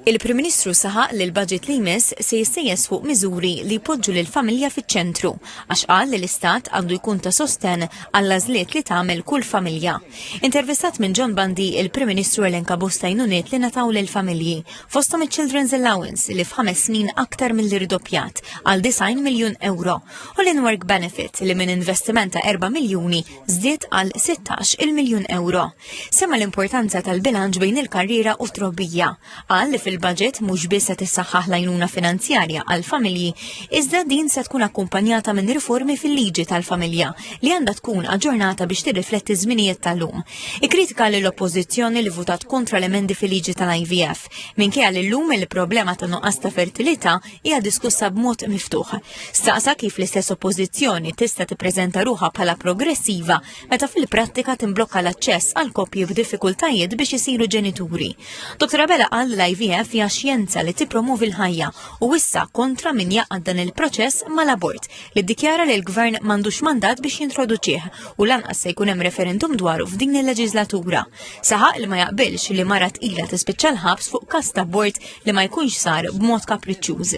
Il-Prim Ministru saħaq li l-budget li jmiss se jissejjes fuq miżuri li jpoġġu lill-familja fiċ-ċentru għax qal li l-Istat għandu jkun ta' sostenn għall-għażliet li tagħmel kull familja. Intervistat minn John Bandi, il-Prim Ministru elenka bosta jnuniet li nataw lill-familji, fosthom iċ-Children's Allowance li f'ħames snin aktar milli rdoppjat għal 90 miljun ewro u l-In-Work Benefit li minn investiment ta' 4 miljuni żdied għal 16 il-miljun euro. Sema l-importanza tal-bilanċ bejn il-karriera u trobbija. Qal li fil-budget mhux biss se tissaħħaħ lajnuna finanzjarja għal familji, iżda din se tkun akkumpanjata minn riformi fil-liġi tal-familja li għandha tkun aġġornata biex tirrifletti żminijiet tal-lum. Ikkritika l oppożizzjoni li votat kontra l-emendi fil-liġi tal-IVF, minkejja li llum il-problema ta' nuqqas ta' fertilità hija diskussa b'mod miftuħ. Staqsa kif l-istess oppożizzjoni tista' tippreżenta ruħha bħala progressiva meta fil-prattika timblokka l-aċċess għal koppji b'diffikultajiet biex isiru ġenituri. Dr. Abela qal l-IVF hija xjenza li tippromovi l-ħajja u issa kontra min jaqgħad dan il-proċess mal-abort li ddikjara li l-gvern m'għandux mandat biex jintroduċih u lanqas se jkun hemm referendum dwaru f'din il-leġiżlatura. Saħaq li ma jaqbilx li mara tqila tispiċċa l-ħabs fuq kasta bord li ma jkunx sar b'mod kapriċċuż.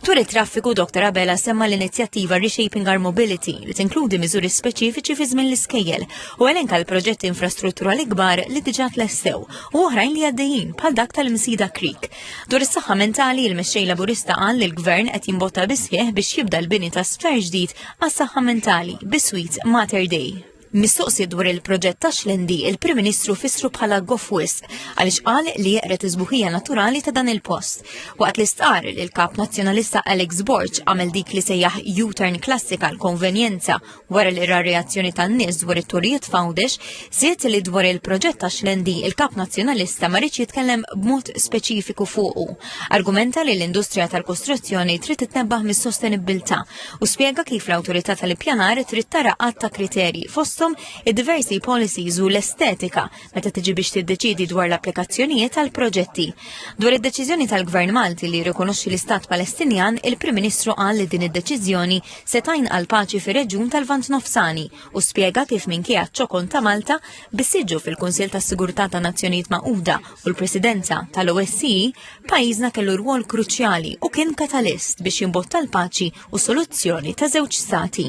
Tur it-traffiku Dr. Abela semma l-inizjattiva Reshaping Our Mobility li tinkludi miżuri speċifiċi fi żmien l-iskejjel u elenka l-proġetti infrastrutturali kbar li diġà tlestew u oħrajn li għaddejjin bħal dak tal-Msida Creek. Dwar is-saħħa mentali il-mexxej Laburista qal li l-Gvern qed jimbotta bisħieħ biex jibda l-bini ta' sfer ġdid għas-saħħa mentali biswit Mater Day. Mistoqsi dwar il-proġett ta' Xlendi, il-Prim Ministru fissru bħala goff wisq għaliex qal li jeqred iż-sbuħija naturali ta' dan il-post. Waqt li stqarr li l-Kap Nazzjonalista Alex Borg għamel dik li sejjaħ U-turn klassika għal konvenjenza wara li ra reazzjoni tan-nies dwar it-turijiet f'Għawdex, żied li dwar il-proġett ta' Xlendi il-Kap Nazzjonalista ma riedx jitkellem b'mod speċifiku fuqu. Argumenta li l-industrija tal-kostruzzjoni trid titnebbaħ mis-sostenibbiltà u spjega kif l-Awtorità tal-Ippjanar trid tara għadd ta' kriterji fosthom id-diversi policies u l-estetika meta tiġi biex tiddeċiedi dwar l-applikazzjonijiet għal proġetti. Dwar id-deċiżjoni tal-Gvern Malti li jirrikonoxxi l-Istat Palestinjan, il-Prim Ministru qal li din id-deċiżjoni se tajn għal paċi fir-reġjun tal-Vant Nofsani u spjega kif minkejja ċ-ċokon ta' Malta biss jiġu fil-Kunsill tas-Sigurtà tan-Nazzjonijiet Magħquda U l-presidenza tal-OSCE pajjiżna kellu rwol kruċjali u kien katalist biex jimbotta l-paċi u soluzzjoni ta' żewġ stati.